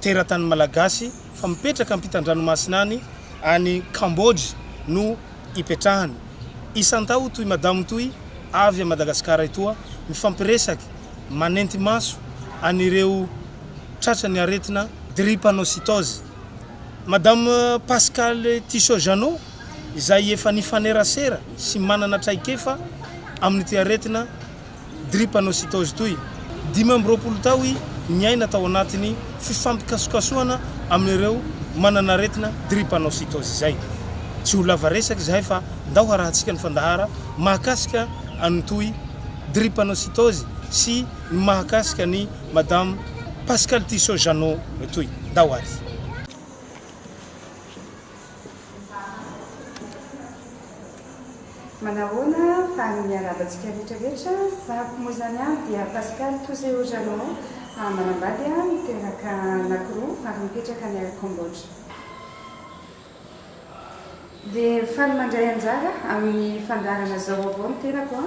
teratany malagasy fa mipetraka ampitan-dranomasina any any Cambodge no ipetrahany. Isan-taon toy madamo toy avy a Madagascar etoa mifampiresaky manenty maso an'ireo tratra ny aretina drepanocytose. Madame Pascale Tissot Jeannot izay efa nifanerasera sy manana traikefa amin'ity aretina. drepanocytose toy. Dimy amby roapolo tao i niaina tao anatin'ny fifampikasokasohana amin'ireo manan'aretina drepanocytose izay. Tsy ho lava resaka izahay fa ndao harahantsika ny fandahara mahakasika an'i toy drepanocytose sy ny mahakasika an'i madame Pascale Tissot Jeannot toy. Ndao ary. Manahoana fa ny miarahaba antsika rehetra rehetra fa ko moa izany aho dia Pascal Touzeo Jeannot a manambady a niteraka anakoroa ary mipetraka any a Cambodge. Dia faly mandray anjara amin'ny fandaharana zao vaovao ny tenako a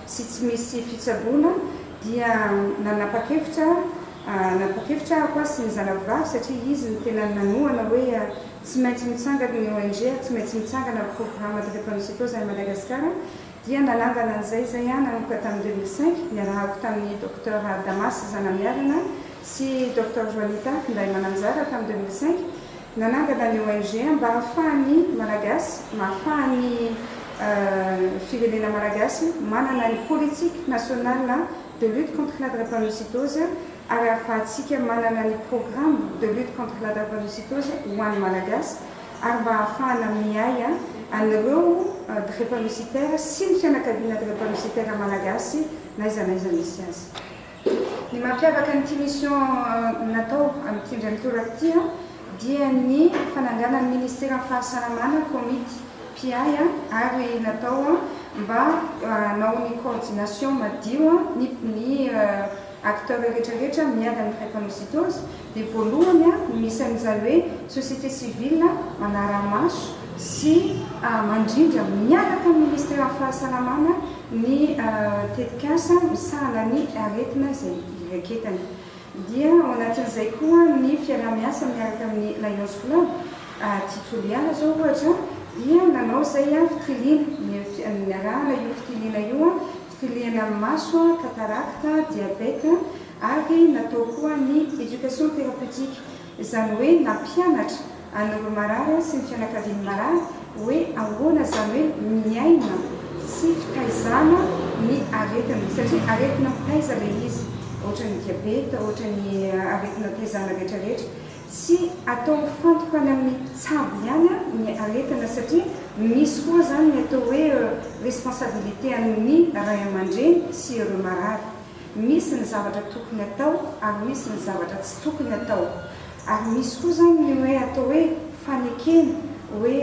sy tsy misy fitsaboana dia nanapa-kevitra nanapa-kevitra aho aho sy ny zanako vavy satria izy no tena nanohana hoe tsy maintsy mitsangana ny ONG ary tsy maintsy mitsangana ny programme drépanocytose any Madagasikara dia nanangana an'izay izay aho nanomboka tamin'ny deux mille cinq niarahako tamin'ny Docteur Damas Zanamiarina sy Docteur Joanita Ndaimananjara tamin'ny deux mille cinq Nanangana ny ONG mba hahafahan'ny Malagasy, mahafahan'ny firenena Malagasy manana ny politique nationale de lutte contre la drepanocytose ary hahafahantsika manana ny programme de lutte contre la drepanocytose ho an'ny Malagasy ary mba hahafahana miahy an'ireo drepanocytaires sy ny fianakaviana drepanocytaires Malagasy n'aiza n'aiza misy azy. Ny mampiavaka an'ity mission natao amin'ity indray mitoraka ity dia ny fananganan'ny Ministeran'ny Fahasalamana komity mpiahy ary natao mba hanao ny coordination madio ny acteurs rehetra rehetra miady amin'ny drépanocytose, dia voalohany no misy an'izany hoe société civile manara-maso sy mandrindra miaraka amin'ny Minisiteran'ny Fahasalamana ny tetikasa misahana ny aretina izay iraketany. Dia ao anatin'izay koa ny fiaraha-miasa miaraka amin'ny Lions Club. Aty Toliara izao ohatra dia nanao izay fitiliana, niarahana io fitiliana io Kilihana amin'ny maso, katarakta, diabeta, ary natao koa ny éducation thérapeutique, izany hoe nampianatra an'ireo marary sy ny fianakavian'ny marary hoe ahoana izany hoe miaina tsy fitaizana ny aretina, satria aretina mitaiza ilay izy, ohatran'ny diabeta, ohatran'ny aretina taizana rehetrarehetra. Tsy atao mifantoka any amin'ny mpitsabo ihany ny aretina satria misy koa izany ny atao hoe responsabilité an'ny ray aman-dreny sy ireo marary. Misy ny zavatra tokony atao ary misy ny zavatra tsy tokony atao. Ary misy koa izany ny hoe atao hoe fanekena hoe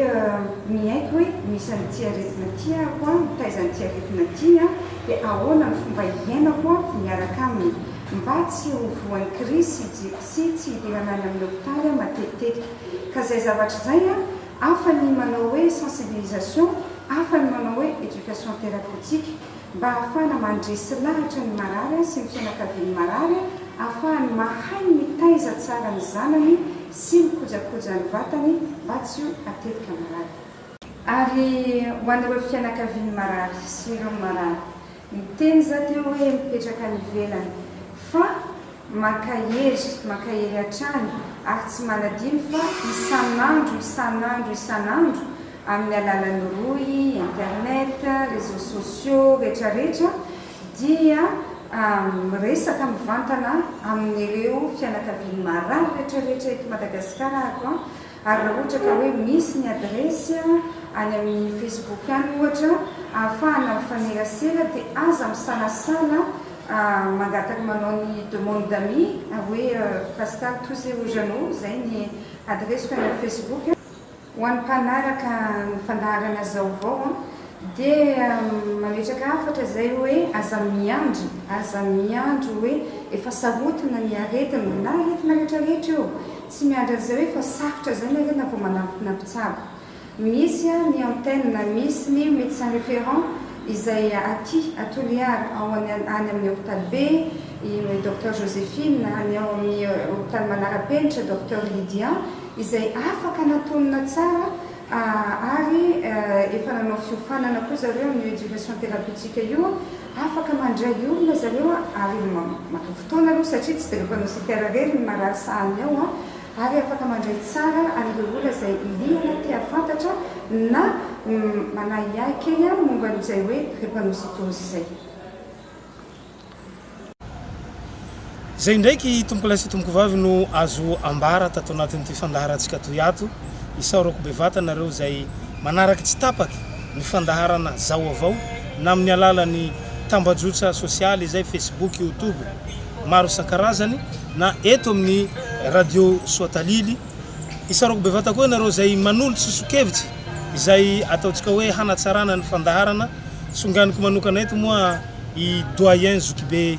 miaiky hoe misy an'ity aretina ity ahako, mitaiza an'ity aretina ity dia ahoana ny fomba hiainako miaraka aminy mba tsy ho voan'ny krizy sy. sy tsy hidirana any amin'ny hopitaly matetitetika ka izay zavatra izay an, hafa ny manao hoe sensibilisation, hafa ny manao hoe éducation thérapeutique mba hahafahana mandresy lahatra ny marary sy ny fianakavian'ny marary hahafahany mahay mitaiza tsara ny zanany sy mikojakoja ny vatany mba tsy ho atetika marary. Ary ho an'ireo fianakavian'ny marary sy ireo marary Niteny za teo hoe mipetraka any ivelany fa maka hery maka hery hatrany ary tsy manadino fa isan'andro isan'andro isan'andro amin'ny alalan'ny rohy, internet, réseaux sociaux retraretra dia miresaka mivantana amin'ireo fianakavian'ny marary retraretra eto Madagasikara aho. Ary raha ohatra ka hoe misy ny adiresy any amin'ny Facebook any ohatra ahafahana mifanerasera dia aza misalasala mangataka manao ny demande d'amis hoe Pascal Touze Ojano izay ny adiresiko any amin'ny Facebook. Ho an'ny mpanaraka ny fandaharana zaovao dia mametraka hafatra izay hoe aza miandry, aza miandry hoe efa sarotiny ny aretina na aretina rehetra rehetra io, Tsy miandry an'izay hoe efa safotra izay ny harena vao manantona mpitsabo. Misy ny antenne, misy ny médecin référent izay aty à Toliara, ao any amin'ny hopitaly be, i Docteur Joséphine, ny ao amin'ny hopitaly manara-penitra, Docteur Lydia, izay afaka natonina tsara ary efa nanao fiofanana koa zareo amin'io éducation thérapeutique io Afaka mandray olona zareo a, ary maka fotoana aloha satria tsy dia ireo mpanao CPR rery no marary sahaniny ao a, ary afaka mandray tsara an'ireo olona izay liana te hahafantatra na manahiahy kely momba an'izay hoe drepanocytose izay. Izay indraiky tompolahy sy tompovavy no azo ambara tato anatin'ity fandaharantsika toy ato. Isaorako bevata anareo izay manaraka tsy tapaka ny fandaharana Zaoavao na amin'ny alalan'ny tambajotra sosialy izay Facebook, Youtube maro isan-karazany na eto amin'ny Radio Soatalily. Isaorako bevata koa ianareo izay manolotra sosokevitra izay ataontsika hoe hanatsarana ny fandaharana. Songaniko manokana eto moa i Doyen Zokibe.